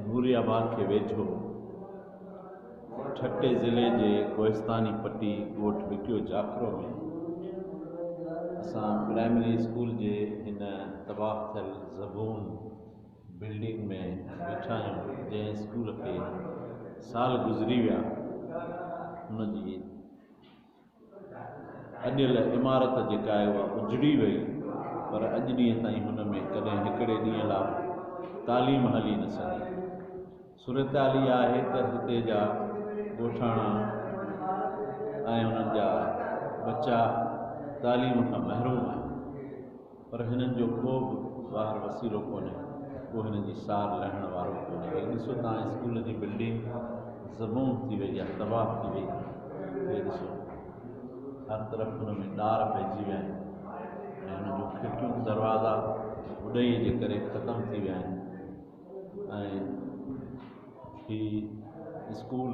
نوري آباد کي ويجهو ٺٽي ضلعي جي ڪوهستاني پٽي ڳوٺ وڪيو جاکرو ۾ اسان پرائمري اسڪول جي هن تباهه ٿيل زبون بلڊنگ ۾ ويٺا آهيون جنهن اسڪول کي سال گذري ويا ان جي اڏيل عمارت جيڪا آهي اها اجڙي وئي پر اڄ ڏينهن تائين هن ۾ ڪڏهن هڪڙي ڏينهن لاء به تعليم هلي نه سگهي. صورتحال اها آهي ته هتي جا ڳوٺاڻا ۽ انهن جا ٻچا تعليم کان محروم آهن. پر هنن جو ڪو به ٻاهر وسيلو ڪونهي، ڪو هنن جي سار لهڻ وارو ڪونهي. هي ڏسو ته هاڻي اسڪول جي بلڊنگ زبون ٿي وئي آهي، تباهه ٿي وئي آهي. هي ڏسو هر طرف ان ۾ ڏار پئجي ويا آهن ۽ ان جون کڙڪيون، دروازا اڏئي جي ڪري ختم ٿي ويا آهن. ۽ هي اسڪول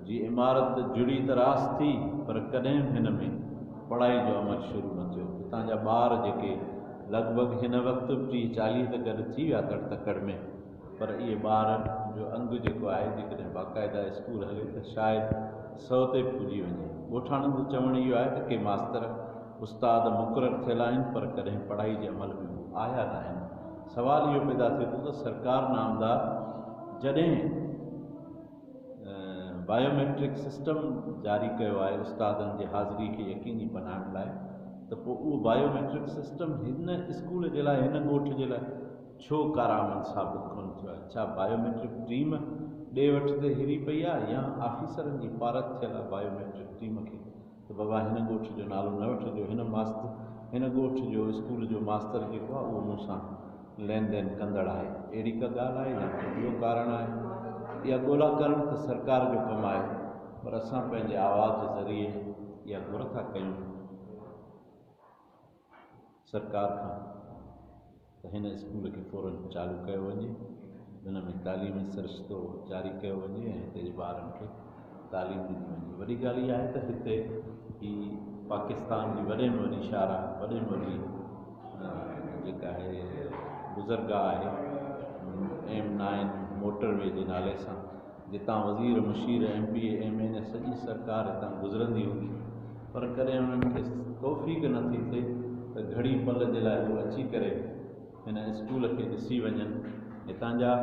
جي عمارت جڙي ته راس ٿي پر ڪڏهن به هن ۾ پڙهائي جو عمل شروع نه ٿيو. هتان جا ٻار جيڪي لڳ ڀڳ هن وقت به ٽيهه چاليهه ته گڏ ٿي ويا تڙ تڪڙ ۾ پر اهي ٻار جو انگ جيڪو آهي جيڪڏهن باقاعده اسڪول هلي ته شايد سئو تي به پڄي وڃي. ڳوٺاڻن جو چوڻ اهو آهي ته ڪي ماستر استاد مقرر ٿيل آهن پر ڪڏهن پڙهائي جي عمل ۾ هو آيا ناهن. سوال اهو پيدا ٿئي ٿو ته سرڪار نامدار جڏهن بائيوميٽرڪ سسٽم جاري ڪيو آهي استادن جي حاضري کي يقيني بنائڻ لاء ته پوء اهو بائيوميٽرڪ سسٽم هن اسڪول جي لاء هن ڳوٺ جي لاء ڇو ڪارآمد ثابت ڪونه ٿيو آهي؟ ڇا بائيوميٽرڪ ٽيم ڏي وٺ تي هري پئي آهي يا آفيسرن جي پارت ٿيل بائيوميٽرڪ ٽيم کي ته بابا هن ڳوٺ جو نالو نه وٺجو، هن ماست هن ڳوٺ جو اسڪول جو ماستر جيڪو آهي اهو مون سان لين دين ڪندڙ آهي. اهڙي ڪا ڳالهه آهي يا ڪو ٻيو ڪارڻ آهي؟ اها ڳولا ڪرڻ ته سرڪار جو ڪم آهي پر اسان پنهنجي آواز ذريعي اها گهر ٿا ڪيون. سرڪار کان ته هن اسڪول کي فورن چالو ڪيو وڃي ان ۾ تعليمي سرشتو جاري ڪيو وڃي ۽ هتي جي ٻارن کي تعليم ڏني وڃي وڏي ڳالهه اها آهي ته هتي هي پاڪستان جي وڏي ۾ وڏي شاهراهه وڏي ۾ وڏي جيڪا آهي گذرگاهه آهي ايم نائن موٽر وي جي نالي سان جتان وزير، مشير، M P A, M N A سڄي سرڪار هتان گذرندي هوندي پر ڪڏهن انهن کي توفيق نه ٿي ٿئي ته گهڙي پل جي لاء هو اچي ڪري هن اسڪول کي ڏسي وڃن هتان جا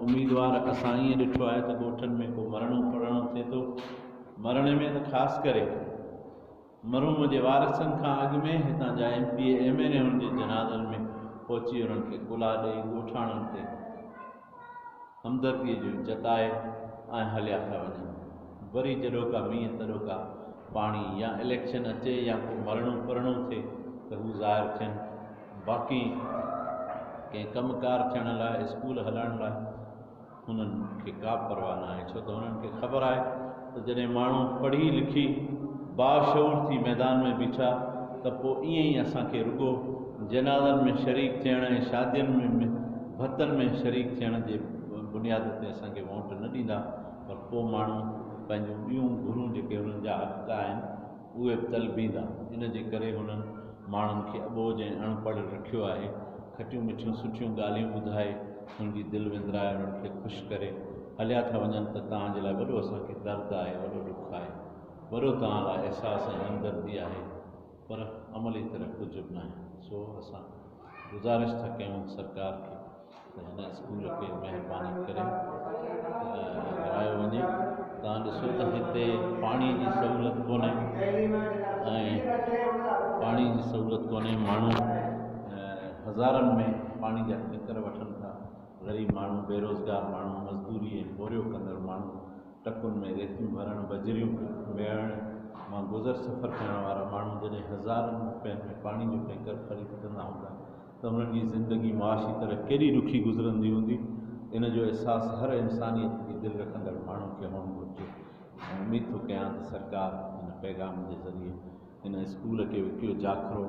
اميدوار اسان ائين ڏٺو آهي ته ڳوٺن ۾ ڪو مرڻو پڙهڻو ٿئي ٿو مرڻي ۾ ته خاص ڪري مرحوم جي وارثن کان اڳ ۾ هتان جا M P A M N A ان جي جنازن ۾ پهچي انهن کي ڪلها ڏئي ڳوٺاڻن تي همدردي جو جتائي ۽ هليا ٿا وڃن وري جڏوڪا مينهن تڏوڪا پاڻي يا اليڪشن اچي يا ڪو مرڻو پرڻو ٿئي ته هو ظاهر ٿين باقي ڪنهن ڪم ڪار ٿيڻ لاء اسڪول هلائڻ لاء انهن کي ڪا به پرواهه ناهي ڇو ته انهن کي خبر آهي ته جڏهن ماڻهو پڙهي لکي باشعور ٿي ميدان ۾ بيٺا ته پوء ائين ئي اسان کي رڳو جنازن ۾ شريڪ ٿيڻ ۽ شادين ۾ ڀتن ۾ شريڪ ٿيڻ جي بنياد تي اسان کي وونٽ نه ڏيندا پر پوء ماڻهو پنهنجون ٻيون گهرون جيڪي انهن جا حق آهن اهي به طلبيندا، ان جي ڪري هنن ماڻهن کي اٻوجهه ۽ اڻ پڙهه رکيو آهي. کٽيون مٺيون سٺيون ڳالهيون ٻڌائي، هن جي دل وندرائي، انهن کي خوش ڪري، هليا ٿا وڃن ته توهان جي لاء وڏو اسان کي درد آهي، وڏو ڏک آهي، وڏو توهان لاء احساس ۽ همدردي آهي، پر عملي طرح ڪجهه به ناهي، سو اسان گذارش ٿا ڪيون سرڪار کي. ته هن اسڪول کي مهرباني ڪري هلايو وڃي توهان ڏسو ته هتي پاڻي جي سهولت ڪونهي ۽ پاڻي جي سهولت ڪونهي ماڻهو هزارن ۾ پاڻي جا ٽينڪر وٺن ٿا غريب ماڻهو بيروزگار ماڻهو مزدوري ۽ پورهيو ڪندڙ ماڻهو ٽڪن ۾ ريتيون ڀرڻ بجريون ميڙڻ مان گذر سفر ڪرڻ وارا ماڻهو جڏهن هزارن روپين ۾ پاڻي جو ٽينڪر خريد ڪندا هوندا ته انهن جي زندگي معاشي طرح ڪيڏي ڏکي گذرندي هوندي، ان جو احساس هر انسانيت جي دل رکندڙ ماڻهو کي هئڻ گهرجي ۽ اميد ٿو ڪيان ته سرڪار هن پيغام جي ذريعي هن اسڪول کي وڪيو جاکرو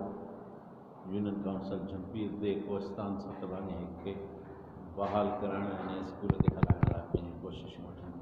يونين ڪائونسل جهمپير ديھ ڪوهستان سرتڀاڃي هيڪ کي بحال ڪرائڻ ۽ هن اسڪول کي هلائڻ لاء پنهنجون ڪوششون وٺندي.